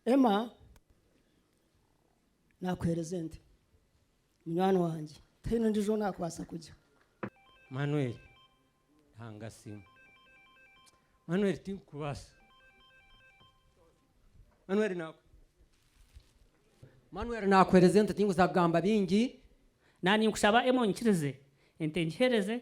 Emma nakuheereza ente munywani wangye tihaine ondiijo ou naakubaasa kugya Manuel, Ruhanga asiimwe. Manuel tinkukubaasa. Manuel na- Manuel naakuheereza ente tinkubaasa kugamba bingi. Naanye nkushaba Emma onyikirize ente ngiheereze.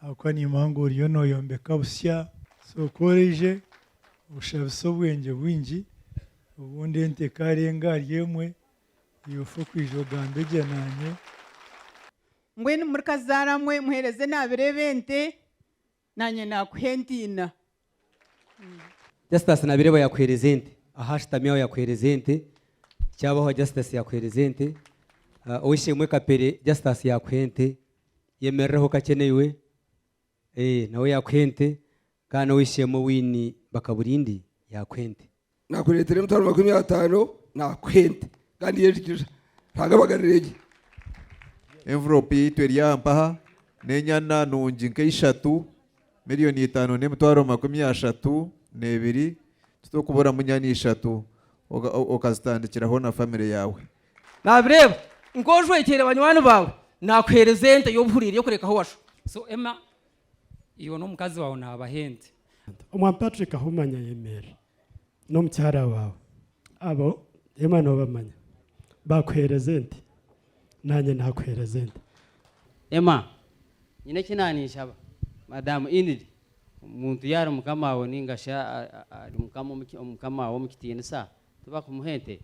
ahabw'okuba niimuha ngu oriyo nooyombeka busya, so ku oraije oshabise obwengye bwingi obundi ente ekaarenga ahari emwe iwe ofe okwija ogambe gye naanye. Mbwenu murikazaara mwe muheereze naabireeba ente, naanye naakuha ente ina. Justus nabireba yakuhereza ente aho ashutami aho yakuhereza ente kyabaho Justus yakuhereza ente ow'eishe-emwe Kapere Justus yakuha ente yemerireho kakye naiwe nawe yakuha ente kandi n'ow'eishe-emwe Winnie Bakaburindi yakuha ente. Nakureetera emitwaro makumi ataano naakuha ente kandi y'endigirira. Ruhanga abagarire gye. Envelope yaitu eri aha mpaha n'enyana nungi nka ishatu, million itaano n'emitwaro makumi ashatu n'ebiri, titurikuburamu nyana ishatu okazitandikiraho na family yaawe. Nabireeba nka ojwekyeire banywani baawe, nakuheereza ente y'obuhuriire y'okurekaho washu. So Emma, Iwe n'omukazi waawe naabaha ente. Omwami Patrick Ahumanya ayemerera n'omukyara waawe. Abo emwe noobamanya. Baakuheereza ente. Naanye naakuheereza ente. Emma, Nyine eki naaniinshaba. Madaamu Enid, Omuntu yaaba ari mukama waawe nainga shi ari mukama omu mukama waawe omu kitiinisa, tibakumuha ente?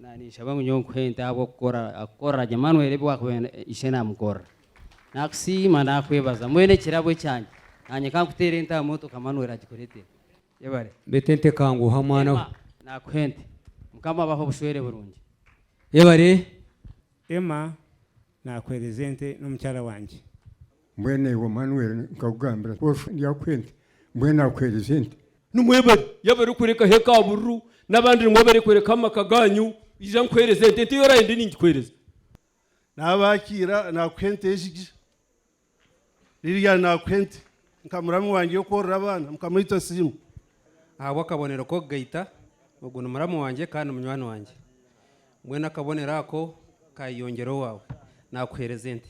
Nanye ninshaba ngu nyowe nkuhe ente ahabw'okukora kukorera gye Manuel ebi waakubaire ishe naamukorera. Naakusiima naakwebaza mbwenu ekirabo ekyangye nanye ka nkuteere ente aha mutwe ka Manuel agikureetere. Yebare. Beitu ente ekanguha mwana we. Emma, Naakuha ente. Mukama abahe obushwere burungi. Yebare. Emma, Naakuheereza ente n'omukyara wangye. Mbwenu iwe Manuel nkakugambira nti, Oshuha ndyakuha ente, mbwenu akuheereza ente. Nimwe bari yaaba arikurekaho eka bururu n'abandi nimwe abarikurekaho amaka gaanyu, ija nkuheereze ente, ente ei oraabe ndi ningikuheereza. Naaba akiira naakuha ente egi gye. Lilian naakuha ente nka muramu wangye y'okworora abaana. Mukama waitu asiimwe. Ahabw'akabonero k'okugaita, Ogu ni muramu wangye kandi munywani wangye. Mbwenu akabonero ako kaayeyongyera owaawe, naakuheereza ente.